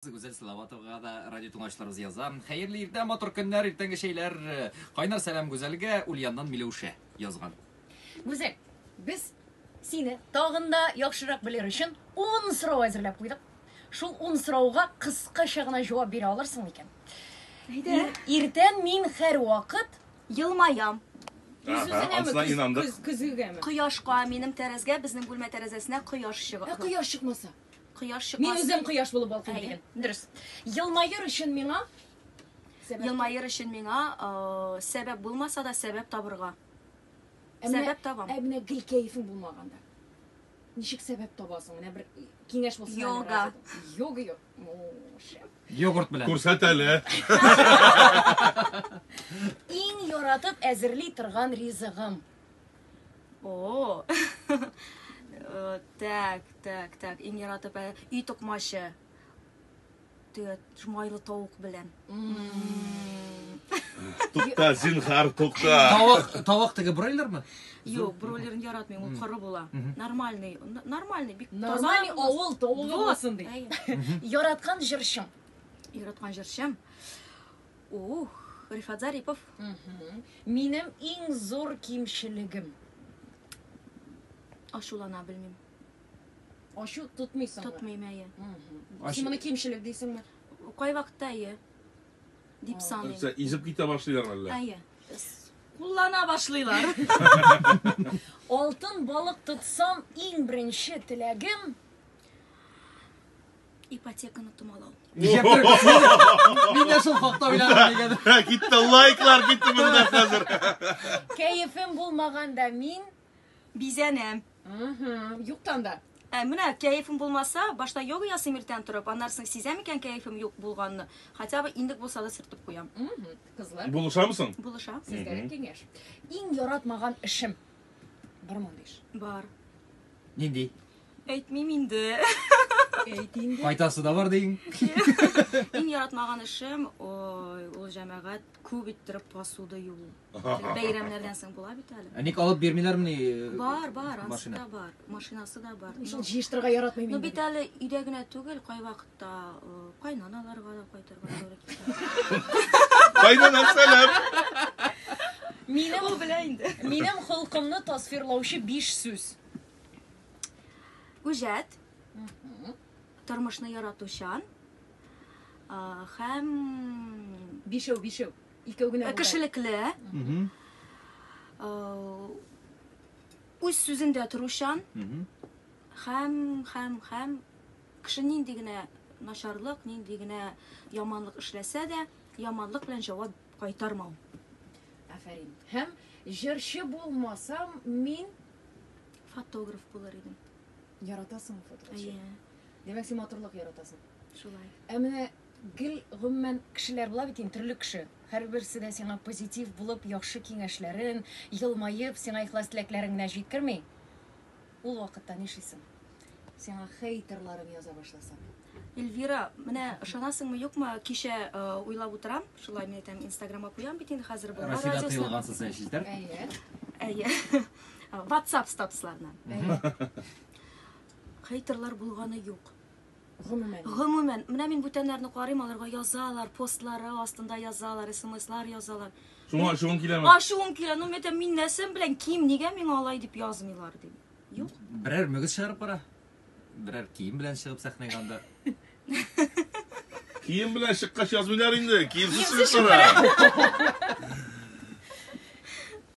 Гүзәл Салаватовага да радиотыңлаучыларыбыз яза. Хәерле иртә, матур көннәр, иртәнге чәйләр. Кайнар сәлам Гүзәлгә, Ульяннан Миләүшә язган. Гүзәл, без сине тагын да яхшырак белер өчен 10 сорау әзерләп куйдык. Шул 10 сорауга кыскача гына җавап бирә алырсың микән? Әйдә. Иртән мин һәрвакыт елмаям. Үзүзенәме? Көзгегәме? Кояшка, минем тәрәзгә, безнең бүлмә тәрәзәсенә кояш чыга. Ә кояш чыкмаса? Кояш чыкмас. Мин үзем кояш булып балкыйм диген. Дөрес. Елмаер өчен миңа Елмаер өчен миңа сәбәп булмаса да сәбәп табырга. Сәбәп табам. Ә менә гел кәефең булмаганда. Ничек сәбәп табасың? Менә бер киңәш булсын. Йога. Йога юк. Йогурт белән. Күрсәт әле. Иң яратып әзерли торган ризыгым. О. Э, так, так, так. Иң яратып ә, өй токмачы. Төгәт майлы тавык белән. Тукта, зинхар, тукта. Тавык, тавык теге бройлермы? Юк, бройлерын яратмыйм, ул коры була. Нормальный, нормальный, бик таза. Нормальный авыл тавыгы булсын ди. Яраткан җырчым. Яраткан җырчым. Ух, Рифат Зарипов. Минем иң зур кимчелегем. Ашулана белмим. Ашу тотмыйсың. Тотмыйм әйе. Син моны кимчелек дисеңме? Кай вакытта әйе. Дип саныйм. Нәрсә, изеп китә башлыйлар әллә? Әйе. Куллана башлыйлар. Алтын балык тотсам, иң беренче теләгем Ипотеканы томалау. Мин дә шул хакта уйладым дигән. Китте лайклар китте монда хәзер. Кәефем булмаганда мин бизәнәм. Юктан да. Ә менә кәефем булмаса, башта йога ясыйм иртән торып, аннан соң сизәм икән кәефем юк булганны. Хотя бы индек булса да сөртеп куям. Кызлар. Булышамы соң? Булыша. Сезгә киңәш. Иң яратмаган эшем. Бар мондый эш. Бар. Нинди? Әйтмим инде. Әйт инде. Файдасы да бар дигең. Иң яратмаган эшем ул җәмәгать күп иттереп посуда юу. Бәйрәмнәрдән соң була бит әле. Ә ник алып бирмиләрмени? Э, бар, бар, ансы да бар. Машинасы да бар. Шул җыештырырга яратмыйм. Ну бит әле өйдә генә түгел, кайвакыт Та э, кайнаналарга да кайтырга туры килә. Кайнана сәлам. Минем Ул белә инде. минем холкымны тасвирлаучы биш сүз. Үҗәт, тормышны яратучан а, һәм Бишәү, бишәү. Икәү генә. булды. кешелекле, Мгм. а, үз сүзендә торучан Мгм. һәм һәм һәм Кеше нинди генә начарлык, нинди генә яманлык эшләсә дә, яманлык белән җавап кайтармау. Афәрин. Һәм җырчы булмасам, мин. Фотограф булыр идем. Яратасың фотография? Әйе. Димәк, син матурлык яратасың. Шулай. Ә менә гел гомумән кешеләр була бит инде, төрле кеше. Һәрберсе дә сиңа позитив булып, яхшы киңәшләрен, елмаеп, сиңа ихлас теләкләрен генә җиткерми. Ул вакытта нишлисең? Сиңа хейтерларың яза башласа. Эльвира, менә ышанасыңмы, юкмы, кичә э, уйлап утырам, шулай мин әйтәм, Инстаграмга куям бит инде хәзер Болгар Россиядә радиосына. тыелгансыз сән челтәр. Әйе. Әйе. WhatsApp статусларына. Хейтерлар булганы юк. Гомумән. Гомумән. Менә мин бүтәннәрне карыйм, аларга язалар, постлары астында язалар, смслар язалар. Шуңа ачуың киләме? Ачуым килә, ну мәтәм мин нәрсәм белән ким, нигә миңа алай дип язмыйлар дим. Юк. Берәр мөгез чыгарып бара. Берәр кием белән чыгып сәхнәгә анда. Кием белән чыккач язмыйлар инде, киемсез чыгып бара.